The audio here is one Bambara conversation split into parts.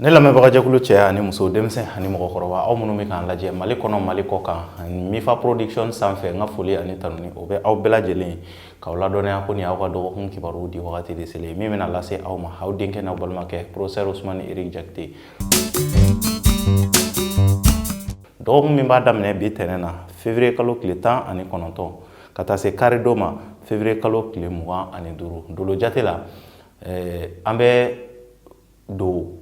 ne lamɛnbagajɛkulu cɛ ani muso denmisɛn ani mɔgɔkɔrɔba aw minnu bɛ k'an lajɛ mali kɔnɔ mali kɔ kan ani mifa production sanfɛ n ka foli ani tanuni o bɛ aw bɛɛ lajɛlen k'aw ladɔnniya ko nin y'aw ka dɔgɔkun kibaruw di wagati de selen min bɛna lase aw ma aw denkɛ n'aw balimakɛ professeur ousmane eric jakite dɔgɔkun min b'a daminɛ bi tɛnɛn na février kalo tile tan ani kɔnɔntɔn ka taa se kari don ma février kalo tile mugan ani duuru dolo jate la eh, an bɛ don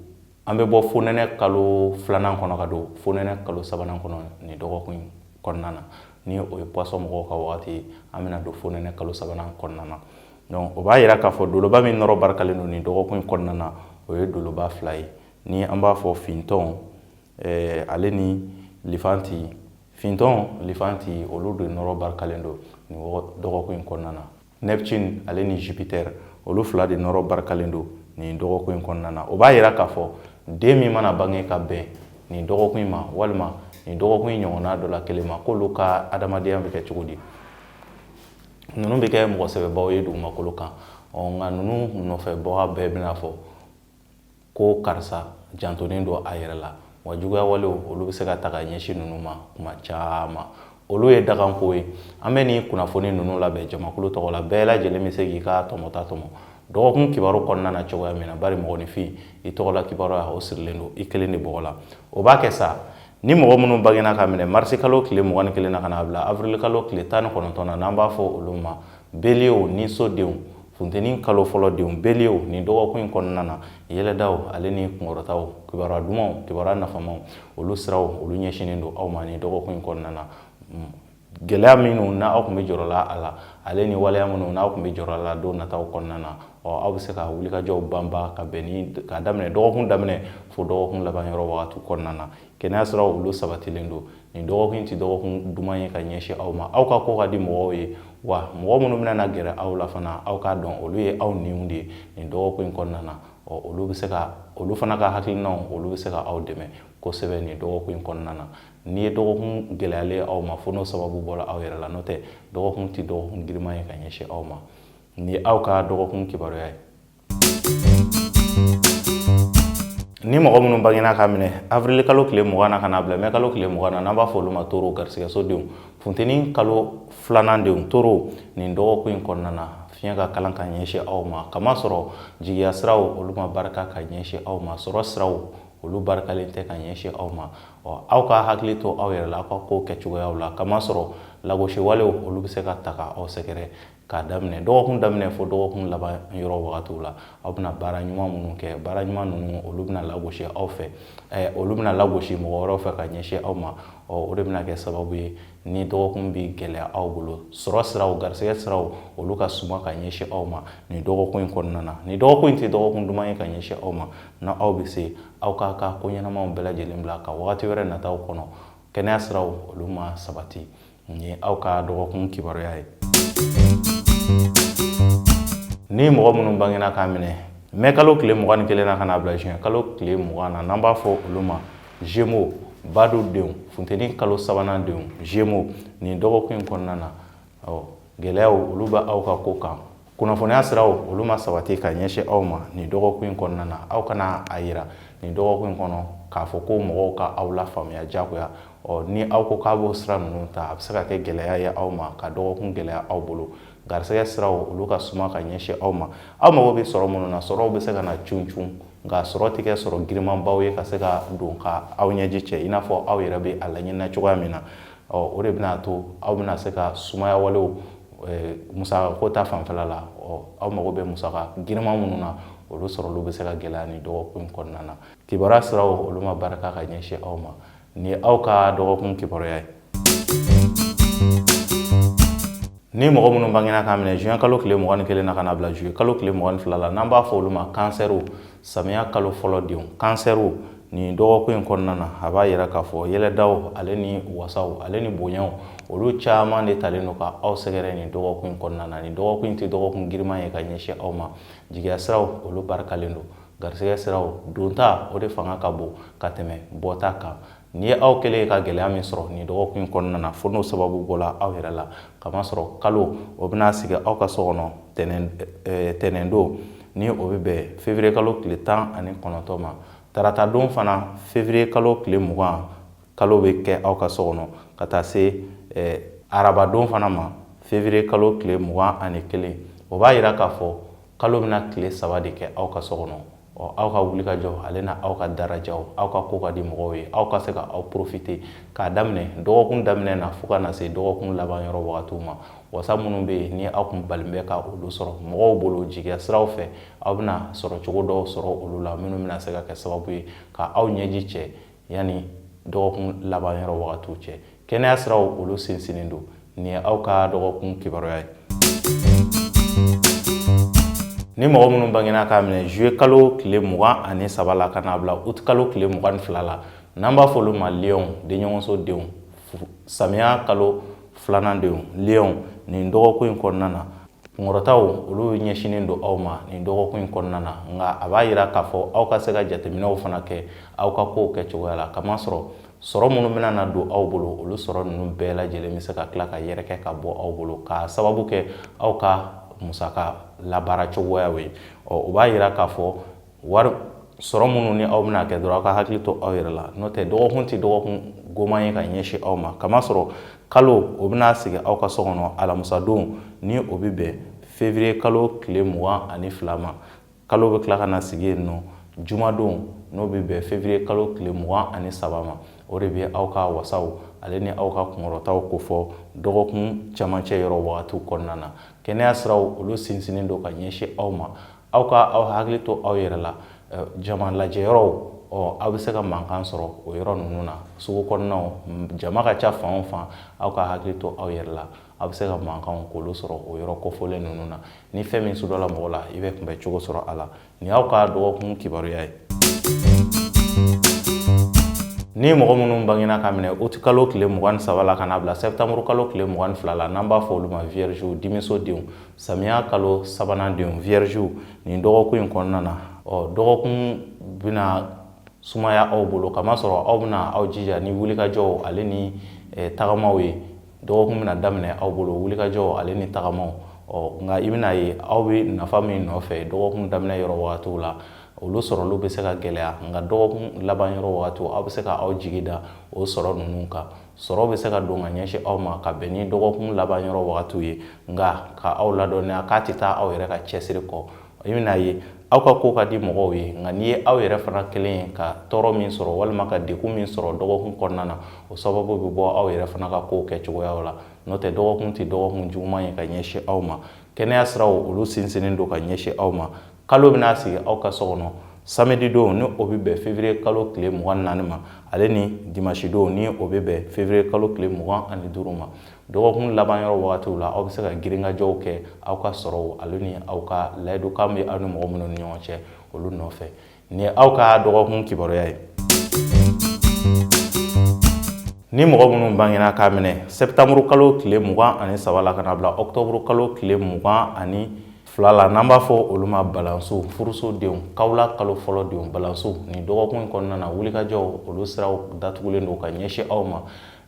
an bɛ bɔ fonɛnɛ kalo filanan kɔnɔ ka don fonɛnɛ kalo sabanan kɔnɔ nin dɔgɔkun kɔnɔna na ni o ye poisson mɔgɔw ka wagati ye an bɛna don fonɛnɛ kalo sabanan kɔnɔna na donc o b'a yira k'a fɔ doloba min nɔrɔ barikalen don nin dɔgɔkun kɔnɔna na o ye doloba fila ye ni an b'a fɔ fintɔn eh, ale ni lifanti fintɔn lifanti olu de nɔrɔ barikalen don nin dɔgɔkun kɔnɔna na neptune ale ni jupiter olu fila de nɔrɔ barikalen don nin dɔgɔkun in kɔnɔna na o b'a yira k'a fɔ den min mana bange ka bɛn nin dɔgɔkun in ma walima nin dɔgɔkun in ɲɔgɔnna dɔ la kelen ma k'olu ka adamadenya bɛ kɛ cogo di ninnu bɛ kɛ mɔgɔ sɛbɛbaw ye dugumakolo kan ɔ nka ninnu nɔfɛbaga bɛɛ bɛna fɔ ko karisa jantonen don a yɛrɛ la wa juguya walew olu bɛ se ka ta ka ɲɛsin ninnu ma kuma caman olu ye dakanko ye an bɛ nin kunnafoni ninnu labɛn jamakulu tɔgɔ la bɛɛ lajɛlen bɛ se k'i ka tɔmɔta tɔmɔ dɔgɔkun kibaru kɔnɔna na cogoya min na bari mɔgɔninfin i tɔgɔla kibaruya o sirilen don i kelen de bɔgɔ la o b'a kɛ sa ni mɔgɔ minnu bangena ka minɛ mars kalo tile mugan kelen na ka n'a bila avril kalo tile tan ni kɔnɔntɔn na n'an b'a fɔ olu ma bélier niso denw Funteni kalo fɔlɔ denw bélier nin dɔgɔkun in kɔnɔna na yɛlɛdaw ale ni kunkɔrɔtaw kibaruya dumanw kibaruya nafamaw olu siraw olu ɲɛsinnen don aw ma nin dɔgɔkun in kɔnɔna na gɛlɛya minnu na aw tun bɛ jɔrɔla a la ale ni waleya minnu n'aw tun bɛ jɔrɔ la don nataw kɔnɔna na ɔ aw bɛ se ka wulikajɔw banba ka bɛn ni ka daminɛ dɔgɔkun daminɛ fo dɔgɔkun laban yɔrɔ wagati kɔnɔna na kɛnɛya siraw olu sabatilen don nin dɔgɔkun tɛ dɔgɔkun duman ye ka ɲɛsin aw ma aw ka ko ka di mɔgɔw ye wa mɔgɔ minnu bɛna na gɛrɛ aw la fana aw k'a dɔn olu ye aw ɲinw de ye nin dɔgɔkun in kɔnɔna na ɔ olu bɛ se ka olu fana ka hakilinaw olu bɛ se ka aw dɛmɛ kosɛbɛ nin dɔgɔkun in kɔnɔna na n'i ye dɔgɔkun gɛlɛyalen aw ma fo n'o sababu bɔra aw yɛrɛ la n'o tɛ dɔgɔkun tɛ dɔgɔkun giriman ye ka ɲɛsin aw ma nin ye aw ka dɔgɔkun kibaruya ye ni mɔgɔ minnu bangena ka minɛ avril kalo tile mugan na ka na bila mɛ kalo tile mugan na n'an b'a fɔ olu ma taureau garisigɛso denw funteni kalo filanan denw taureau nin dɔgɔkun in kɔnɔna na fiɲɛ ka kalan ka ɲɛsin aw ma kamasɔrɔ jigiya siraw olu ma barika ka ɲɛsin aw ma sɔrɔ siraw olu barikalen tɛ ka ɲɛsin aw ma ɔ aw ka hakili to aw yɛrɛ la aw ka ko kɛcogoyaw la kamasɔrɔ lagosi walew olu bɛ se ka ta ka aw sɛgɛrɛ k'a daminɛ dɔgɔkun daminɛ fo dɔgɔkun laban yɔrɔ wagatiw la aw bɛna baara ɲuman minnu kɛ baara ɲuman ninnu olu bɛna lagosi aw fɛ olu bɛna lagosi mɔgɔ wɛrɛw fɛ ka ɲɛsin aw ma o de bɛna kɛ sababu ye nin dɔgɔkun bɛ gɛlɛya aw bolo sɔrɔ siraw garisɛgɛ siraw olu ka suma ka ɲɛsin aw ma nin dɔgɔkun in kɔnɔna na nin dɔgɔkun in tɛ dɔgɔkun duman ye ka ɲɛsin aw ma n'aw bɛ se aw k'aw ka ko ɲɛnamaw bɛɛ lajɛlen bila ka wagati wɛrɛ nataw kɔnɔ kɛnɛya siraw olu ma sabati Nin ye aw ka dɔgɔkun kibaruya ye ni mɔgɔ minnu bangena k'a minɛ mɛ kalo tile mugan ni kelen na ka na bila juin kalo tile mugan na n'an b'a fɔ olu ma gémeaux badu denw funteni kalo sabanan denw gémeaux nin dɔgɔkun in kɔnɔna na gɛlɛyaw olu bɛ aw ka ko kan kunnafoniya siraw olu ma sabati ka ɲɛsin aw ma nin dɔgɔkun in kɔnɔna na aw kana a yira nin dɔgɔkun in kɔnɔ k'a fɔ ko mɔgɔw ka aw lafaamuya jagoya ɔ ni aw ko k'aw b'o sira ninnu ta a bɛ se ka kɛ gɛlɛya ye aw ma ka dɔgɔkun gɛlɛya aw bolo garisɛgɛ siraw olu ka suma ka ɲɛsin aw ma aw mago bɛ sɔrɔ minnu na sɔrɔw bɛ se ka na cun cun nka sɔrɔ tɛ kɛ sɔrɔ girimanbaw ye ka se ka don ka aw ɲɛji cɛ i n'a fɔ aw yɛrɛ bɛ a laɲinina cogoya min na ɔ o de bɛna to aw bɛna se ka sumaya walew eh, musaka ko ta fanfɛla la ɔ aw mago bɛ musaka giriman minnu na olu sɔrɔli bɛ se ka gɛlɛya nin dɔgɔkun kɔnɔna na kibaruya siraw olu ma barika ka ɲɛsin aw ma nin ye aw ka dɔgɔkun kibaruya ye ni mɔgɔ minnu bangena k'a minɛ juin kalo tile mugan ni kelen na ka na bila juillet kalo tile mugan ni fila la n'an b'a fɔ olu ma kansɛriw samiya kalo fɔlɔ denw kansɛriw nin dɔgɔkun in kɔnɔna na a b'a yira k'a fɔ yɛlɛdaw ale ni wasaw ale ni bonyaw olu caman de talen don ka aw sɛgɛrɛ nin dɔgɔkun in kɔnɔna na nin dɔgɔkun in tɛ dɔgɔkun giriman ye ka ɲɛsin aw ma jigiya siraw olu barikalen don garisɛgɛ siraw donta o de fanga ka bon ka tɛmɛ bɔta kan N'i ye aw kɛlen ye ka gɛlɛya min sɔrɔ nin dɔgɔkun in kɔnɔna na fo n'o sababu bɔra aw yɛrɛ la k'a masɔrɔ kalo o bɛna sigi aw ka so kɔnɔ tɛnɛn don ni o bɛ bɛn février kalo tile tan ani kɔnɔntɔn ma tarata don fana février kalo tile mugan kalo bɛ kɛ aw ka so kɔnɔ ka taa se araba don fana ma février kalo tile mugan ani kelen o b'a yira k'a fɔ kalo bɛna tile saba de kɛ aw ka so kɔnɔ ɔ aw ka wulikajɔ ale na aw ka darajaw aw ka ko ka di mɔgɔw ye aw ka se ka aw profiter k'a daminɛ dɔgɔkun daminɛ na fo ka na se dɔgɔkun laban yɔrɔ wagatiw ma wasa minnu bɛ yen ni aw kun balen bɛ ka olu sɔrɔ mɔgɔw bolo jigiya siraw fɛ aw bɛna sɔrɔ cogo dɔw sɔrɔ olu la minnu bɛna se ka kɛ sababu ye ka aw ɲɛji cɛ yanni dɔgɔkun laban yɔrɔ wagatiw cɛ kɛnɛya siraw olu sinsinnen don nin ye aw ka dɔgɔkun kibaruya ye ni mɔgɔ minnu bangena k'a minɛ juye kalo tile mugan ani saba la ka n'a bila uti kalo tile mugan ni fila la n'an b'a fɔ olu ma liyɔnw denɲɔgɔnso denw samiya kalo filanan denw liyɔnw nin dɔgɔkun in kɔnɔna na kunkɔrɔtaw olu ɲɛsinnen don aw ma nin dɔgɔkun in kɔnɔna na nka a b'a yira k'a fɔ aw ka se ka jateminɛw fana kɛ aw ka kow kɛ cogoya la kamasɔrɔ sɔrɔ minnu bɛna na don aw bolo olu sɔrɔ ninnu bɛɛ lajɛlen bɛ se ka tila ka yɛrɛkɛ ka bɔ aw bolo k'a sababu kɛ aw ka musaka labaara cogoyaw ye ɔ o b'a yira k'a fɔ wari sɔrɔ minnu ni aw bɛna kɛ dɔrɔn aw ka hakili to aw yɛrɛ la n'o tɛ dɔgɔkun tɛ dɔgɔkun goman ye ka ɲɛsin aw ma kamasɔrɔ kalo o bɛna sigi aw ka so kɔnɔ alamusadon ni o bɛ bɛn fevriye kalo tile mugan ani fila ma kalo bɛ tila ka na sigi yen nɔ jumadon n'o bɛ bɛn fevriye kalo tile mugan ani saba ma o de bɛ aw ka wasaw ale ni aw ka kunkɔrɔtaw kofɔ dɔgɔkun camancɛ yɔrɔ wagatiw kɔnɔna na kɛnɛya siraw olu sinsinnen don ka ɲɛsin aw ma aw ka aw hakili to aw yɛrɛ la jama lajɛ yɔrɔw ɔ aw bɛ se ka mankan sɔrɔ o yɔrɔ ninnu na sugu kɔnɔnaw jama ka ca fan o fan aw ka hakili to aw yɛrɛ la aw bɛ se ka mankanw k'olu sɔrɔ o yɔrɔ kofɔlen ninnu na ni fɛn min sudɔla mɔgɔ la i bɛ kunbɛn cogo sɔrɔ a la nin y'aw ka dɔgɔkun kibaruya ye ni mɔgɔ minnu bangena k'a minɛ uti kalo tile mugan ni saba la ka n'a bila sɛptanburu kalo tile mugan ni fila la n'an b'a fɔ olu ma viergew dimiso denw samiya kalo sabanan denw viergew nin dɔgɔkun in kɔnɔna na ɔ dɔgɔkun bɛna sumaya aw bolo kamasɔrɔ aw bɛna aw jija ni wulikajɔw ale ni eh, tagamaw ye dɔgɔkun bɛna daminɛ aw bolo wulikajɔw ale ni tagamaw ɔ nka i bɛna ye aw bɛ nafa min nɔfɛ dɔgɔkun daminɛ yɔrɔ wagatiw la olu sɔrɔli bɛ se ka gɛlɛya nka dɔgɔkun laban yɔrɔ wagatiw aw bɛ se ka aw jigi da o sɔrɔ ninnu kan sɔrɔ bɛ se ka don ka ɲɛsin aw ma ka bɛn ni dɔgɔkun laban yɔrɔ wagatiw ye nka ka aw ladɔnniya k'a tɛ taa aw yɛrɛ ka cɛsiri kɔ i bɛna ye aw ka ko ka di mɔgɔw ye nka n'i ye aw yɛrɛ fana kɛlen ye ka tɔɔrɔ min sɔrɔ walima ka degun min sɔrɔ dɔgɔkun kɔnɔna na o sababu bɛ bɔ aw yɛrɛ fana ka kow kɛ cogoyaw la n'o tɛ dɔgɔkun tɛ dɔgɔkun juguman ye ka ɲɛsin aw ma kɛnɛya siraw olu sinsinnen don ka ɲɛsin aw ma kalo bɛna sigi aw ka so kɔnɔ samedi don ni o bɛ bɛn février kalo tile mugan ni naani ma ale ni dimanche don ni o bɛ bɛn février kalo tile mugan ani duuru ma dɔgɔkun laban yɔrɔ wagatiw la aw bɛ se ka girinkajɔw kɛ aw ka sɔrɔw ale ni aw ka layidukan bɛ aw ni mɔgɔ minnu ni ɲɔgɔn cɛ olu nɔfɛ nin ye aw ka dɔgɔkun kibaruya ye ni mɔgɔ minnu bangena k'a minɛ sɛptanburu kalo tile mugan ani saba la ka n'a bila ɔktɔburu kalo tile mugan ani Fila la n'an b'a fɔ olu ma balansiw furuso denw kawula kalo fɔlɔ denw balansiw nin dɔgɔkun in kɔnɔna na wulikajɔw olu siraw datugulen don ka ɲɛsin aw ma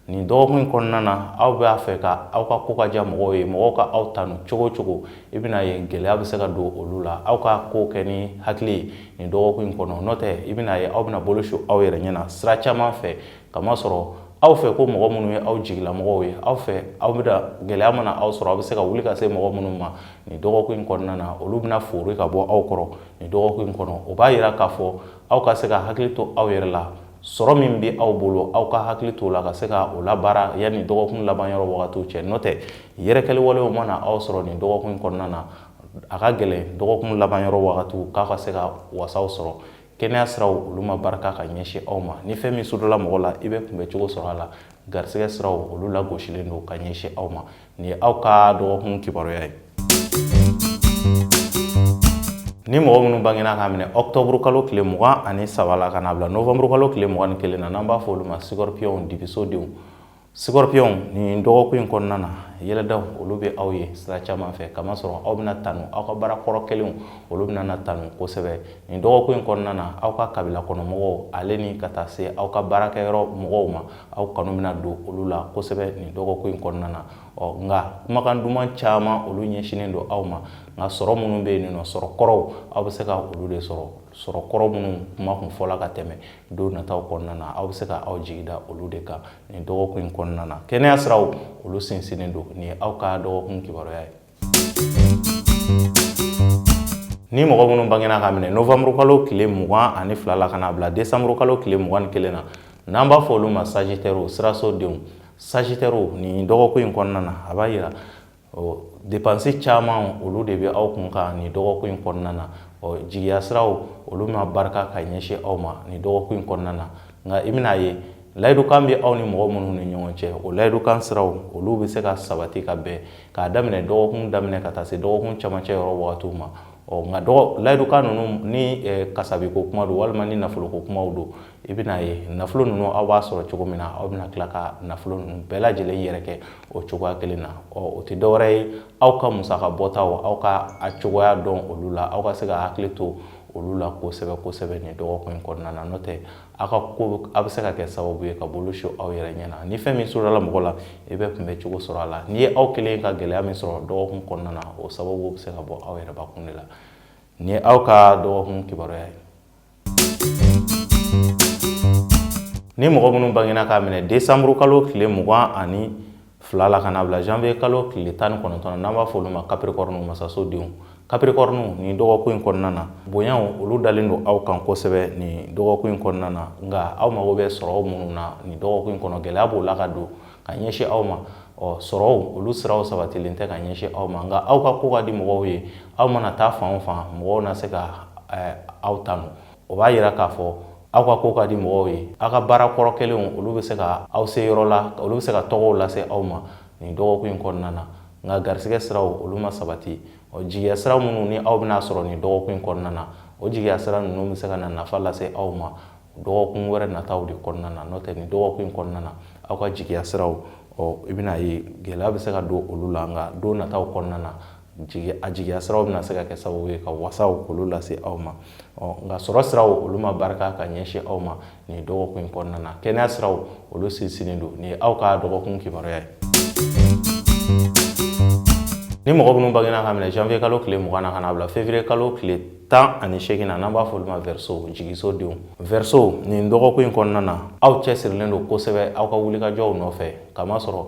nin dɔgɔkun in kɔnɔna na aw b'a fɛ ka aw ka ko ka diya mɔgɔw ye mɔgɔw ka aw tanu cogo cogo i bɛna ye gɛlɛya bɛ se ka don olu la aw ka ko kɛ ni hakili ye nin dɔgɔkun in kɔnɔ n'o tɛ i bɛna ye aw bɛna bolo su aw yɛrɛ ɲɛna sira caman fɛ kamasɔrɔ aw fɛ ko mɔgɔ minnu ye aw jigilamɔgɔw ye aw fɛ aw bɛ da gɛlɛya mana aw sɔrɔ aw bɛ se ka wuli ka se mɔgɔ minnu ma nin dɔgɔkun in kɔnɔna na olu bɛna fori ka bɔ aw kɔrɔ nin dɔgɔkun in kɔnɔ o b'a yira k'a fɔ aw ka se ka hakili to aw yɛrɛ la sɔrɔ min bɛ aw bolo aw ka hakili to la ka se ka o labaara yanni dɔgɔkun laban yɔrɔ wagatiw cɛ n'o tɛ yɛrɛkɛli walew mana aw sɔrɔ nin dɔgɔkun in kɔnɔna na a ka gɛlɛn dɔgɔkun laban yɔrɔ wagatiw k'a ka se ka wasaw sɔrɔ kɛnɛya siraw olu ma barika ka ɲɛsin aw ma ni fɛn min sudɔla mɔgɔ la i bɛ kunbɛ cogo sɔrɔ a la garisɛgɛ siraw olu lagosilen don ka ɲɛsin aw ma nin ye aw ka dɔgɔkun kibaruya ye ni mɔgɔ minnu bangena k'a minɛ ɔktɔburu kalo tile mugan ani saba la ka n'a bila novanburu kalo tile mugan ni kelen na n'an b'a fɔ olu ma sikɔripiyɔnw dibiso denw Sikɔripiyɔnw nin dɔgɔkun in kɔnɔna na yɛlɛdaw olu bɛ aw ye sira caman fɛ kamasɔrɔ aw bɛna tanu aw ka baara kɔrɔ kɛlenw olu bɛna tanu kosɛbɛ nin dɔgɔkun in kɔnɔna na aw ka kabila kɔnɔ mɔgɔw ale ni ka taa se aw ka baarakɛ yɔrɔ mɔgɔw ma aw kanu bɛna don olu la kosɛbɛ nin dɔgɔkun in kɔnɔna na ɔ nka kumakan duman caman olu ɲɛsinnen don aw ma nka sɔrɔ minnu bɛ yen nin sɔrɔ kɔrɔw aw bɛ se ka olu de sɔrɔ sɔrɔ kɔrɔ minnu kuma kun fɔla ka tɛmɛ don nataw kɔnɔna na aw bɛ se ka aw jigi da olu de kan nin dɔgɔkun in kɔnɔna na kɛnɛya siraw olu sinsinnen don nin ye aw ka dɔgɔkun kibaruya ye ni mɔgɔ minnu bangena k'a minɛ novembre kalo tile mugan ani fila la ka n'a bila décembre kalo tile mugan ni kelen na n'an b'a fɔ olu ma sagitɛriw siraso denw sagitɛriw nin dɔgɔkun in kɔnɔna na a b'a yira ɔ depansi caman olu de bɛ aw kun kan nin dɔgɔkun in kɔnɔna na ɔ jigiya siraw olu ma barika ka ɲɛsin aw ma nin dɔgɔkun in kɔnɔna na nka i bɛna ye layidukan bɛ aw ni mɔgɔ minnu ni ɲɔgɔn cɛ o layidukan siraw olu bɛ se ka sabati ka bɛn k'a daminɛ dɔgɔkun daminɛ ka taa se dɔgɔkun camancɛ yɔrɔ wagatiw ma ɔ nka dɔgɔ layidukan ninnu ni kasabiko kuma don walima ni nafoloko kumaw don i bɛna ye nafolo ninnu aw b'a sɔrɔ cogo min na aw bɛna tila ka nafolo ninnu bɛɛ lajɛlen yɛrɛkɛ o cogoya kelen na ɔ o tɛ dɔwɛrɛ ye aw ka musaka bɔtaw aw ka a cogoya dɔn olu la aw ka se ka hakili to olu la kosɛbɛ kosɛbɛ nin dɔgɔkun in kɔnɔna na n'o tɛ aw ka ko a bɛ se ka kɛ sababu ye ka bolo su aw yɛrɛ ɲɛ na ni fɛn min sɔrɔla mɔgɔ la i bɛ kunbɛ cogo sɔrɔ a la n'i ye aw kelen ka gɛlɛya min sɔrɔ dɔgɔkun kɔnɔna na o sababu bɛ se ka bɔ aw yɛrɛ bakun de la nin ye aw ka dɔgɔkun kibaruya ye Ni mɔgɔ minnu bangina k'a minɛ desanburu kalo tile mugan ani fila la ka na bila janvier kalo tile tan ni kɔnɔntɔn na n'an b'a fɔ olu ma Capricorne masasodenw Capricorne nin dɔgɔkun in kɔnɔna na bonyaw olu dalen don aw kan kosɛbɛ nin dɔgɔkun in kɔnɔna na nka aw mago bɛ sɔrɔ minnu na nin dɔgɔkun in kɔnɔ gɛlɛya b'o la ka don ka ɲɛsin aw ma ɔ sɔrɔw olu siraw sabatilen tɛ ka ɲɛsin aw ma nka aw ka ko ka di mɔgɔw ye aw mana taa fan o fan mɔgɔw na se ka eh, aw tanu o b'a yira k'a fɔ aw ka ko ka di mɔgɔw ye aw ka baara kɔrɔ kɛlenw olu bɛ se ka aw se yɔrɔ la olu bɛ se ka tɔgɔw lase aw ma nin dɔgɔkun in kɔnɔna na nka garisigɛ siraw olu ma sabati ɔ jigiya sira minnu ni aw bɛna sɔrɔ nin dɔgɔkun in kɔnɔna na o jigiya sira ninnu bɛ se ka na nafa lase aw ma dɔgɔkun wɛrɛ nataw de kɔnɔna na n'o tɛ nin dɔgɔkun in kɔnɔna na aw ka jigiya siraw ɔ i bɛna ye gɛlɛya bɛ se ka don olu la nka don nataw kɔnɔna na a jigiya siraw bɛna se ka kɛ sababu ye ka wasaw olu lase aw ma ɔ nka sɔrɔ siraw olu ma barika ka ɲɛsin aw ma nin dɔgɔkun in kɔnɔna na kɛnɛya siraw olu sinsinnen don nin ye aw ka dɔgɔkun kibaruya ye ni mɔgɔ minnu bangina k'a minɛ janvier kalo tile mugan na ka n'a bila février kalo tile tan ani seegin na n'an b'a fɔ olu ma verseau jigisodenw verseau nin dɔgɔkun in kɔnɔna na aw cɛsirilen don kosɛbɛ aw ka wulikajɔw nɔfɛ kamasɔrɔ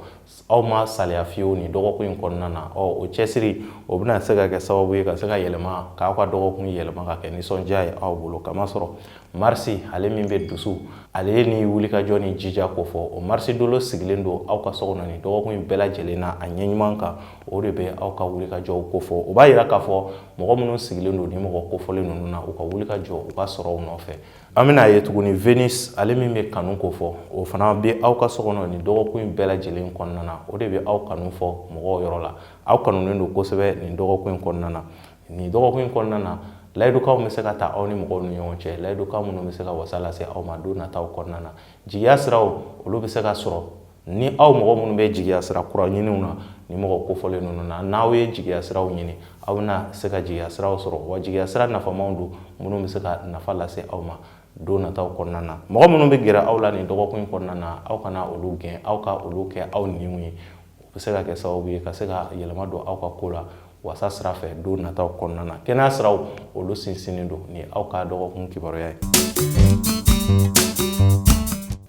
aw ma saliya fiyewu nin dɔgɔkun in kɔnɔna na ɔ o cɛsiri o bɛna se ka kɛ sababu ye ka se ka yɛlɛma k'aw ka dɔgɔkun yɛlɛma ka kɛ nisɔndiya ye aw bolo kamasɔrɔ marisi ale min bɛ dusu ale ye ni wulikajɔ ni jija kofɔ o marisi dolo sigilen don aw ka so kɔnɔ nin dɔgɔkun in bɛɛ lajɛlen na a ɲɛɲuman kan o de bɛ aw ka wulikajɔw kofɔ o b'a yira k'a fɔ mɔgɔ minnu sigilen don ni mɔgɔ kofɔlen ninnu na u ka wulikajɔ u ka sɔrɔw nɔfɛ an bɛna a ye tuguni venus ale min bɛ kanu kofɔ o fana bɛ aw ka so kɔnɔ nin dɔgɔkun in bɛɛ lajɛlen kɔnɔna na o de bɛ aw kanu fɔ mɔgɔw yɔrɔ la aw kanunen don kosɛbɛ nin dɔgɔkun in kɔnɔna na nin dɔgɔkun in kɔnɔna na layidukanw bɛ se ka ta aw ni mɔgɔw ni ɲɔgɔn cɛ layidukan minnu bɛ se ka wasa lase aw ma don nataw kɔnɔna na jigiya siraw olu bɛ se ka sɔrɔ ni aw mɔgɔ minnu bɛ jigiya sira kura ɲiniw na ni mɔgɔ kofɔlen ninnu na n'aw ye jigiya siraw ɲini aw bɛna se ka jigiya siraw sɔrɔ wa jigiya sira nafamaw don minnu bɛ se ka nafa lase aw ma don nataw kɔnɔna na mɔgɔ minnu bɛ gɛrɛ aw la nin dɔgɔkun in kɔnɔna na aw kana olu gɛn aw ka olu kɛ aw niw ye u bɛ se ka kɛ sababu ye ka se ka yɛlɛma don aw ka ko la wasa sira fɛ don nataw kɔnɔna na kɛnɛya siraw olu sinsinnen don ni aw ka dɔgɔkun kibaruya ye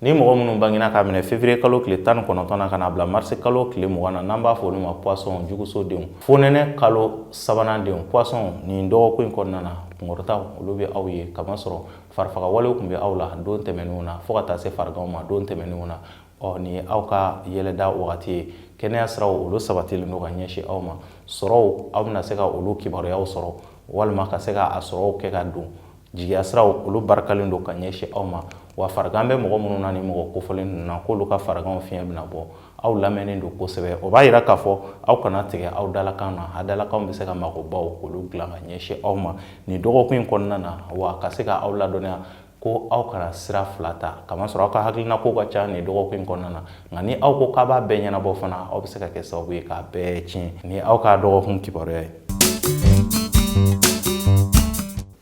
ni mɔgɔ minnu bangina k'a minɛ février kalo tile tan ni kɔnɔntɔn na ka na bila marisi kalo tile mugan na n'an b'a fɔ olu ma poisson jugusodenw fonɛnɛ kalo sabanan denw poisson nin dɔgɔkun in kɔnɔna na kunkɔrɔtaw olu bɛ aw ye kamasɔrɔ farifagawalew tun bɛ aw la don tɛmɛnenw na fɔɔ ka taa se fariganw ma don tɛmɛnenw na ɔ nin ye aw ka yɛlɛda wagati ye kɛnɛya siraw olu sabatilen don ka ɲɛsin aw ma sɔrɔw aw bɛna se ka olu kibaruyaw sɔrɔ walima ka se ka a sɔrɔw kɛ ka don jigiya siraw olu barikalen don ka ɲɛsin aw ma wa farigan bɛ mɔgɔ minnu na ni mɔgɔ kofɔlen ninnu na k'olu ka fariganw fiɲɛ bɛna bɔ aw lamɛnnen don kosɛbɛ o b'a yira k'a fɔ aw kana tigɛ aw dalakan na aw dalakanw bɛ se ka magobaw k'olu dilan ka ɲɛsin aw ma nin dɔgɔkun in kɔnɔna na wa ka se ka aw ladɔnniya ko aw kana sira fila ta kamasɔrɔ aw ka hakilina kow ka ca nin dɔgɔkun in kɔnɔna na nka ni aw ko k'aw b'a bɛɛ ɲɛnabɔ fana aw bɛ se ka kɛ sababu ye k'a bɛɛ tiɲɛ nin aw ka dɔgɔkun kibaruya ye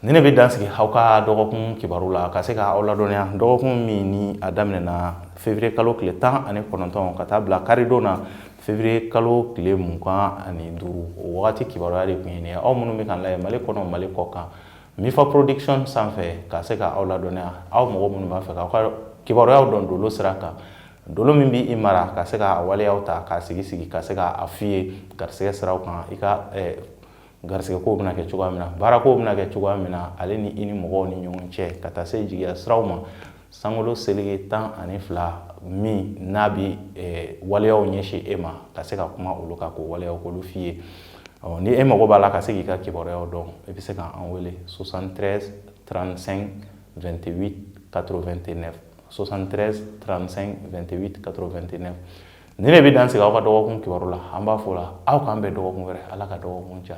ni ne bɛ dan sigi aw ka dɔgɔkun kibaru la ka se ka aw ladɔnniya dɔgɔkun min ni a daminɛna fevrier kalo tile tan ani kɔnɔntɔn ka taa bila karidon na fevrier kalo tile mugan ani duuru o wagati kibaruya de tun ye nin ye aw minnu bɛ k'an lajɛ mali kɔnɔ mali kɔ kan Mifa production sanfɛ ka se ka aw ladɔnniya aw mɔgɔ minnu b'a fɛ k'aw ka kibaruyaw dɔn dolo sira kan dolo min bɛ i mara ka se ka waleyaw ta k'a sigi sigi ka se k'a f'i ye garisɛgɛ siraw kan i ka garisɛgɛ kow bɛna kɛ cogoya min na baara kow bɛna kɛ cogoya min na ale ni i ni mɔgɔw ni ɲɔgɔn cɛ ka taa se jigiya siraw ma sankolo seleke tan ani fila min n'a bɛ eh, waleyaw ɲɛsin e ma ka se ka kuma olu kan k'o waleyaw k'olu f'i ye ɔ ni e mago b'a la ka se k'i ka kibaruyaw dɔn i bɛ se ka an wele 73 35 28 89 73 35 28 89 ne de bɛ dan sigi aw ka dɔgɔkun kibaru la an b'a fɔ la aw k'an bɛn dɔgɔkun wɛrɛ ala ka dɔgɔkun diya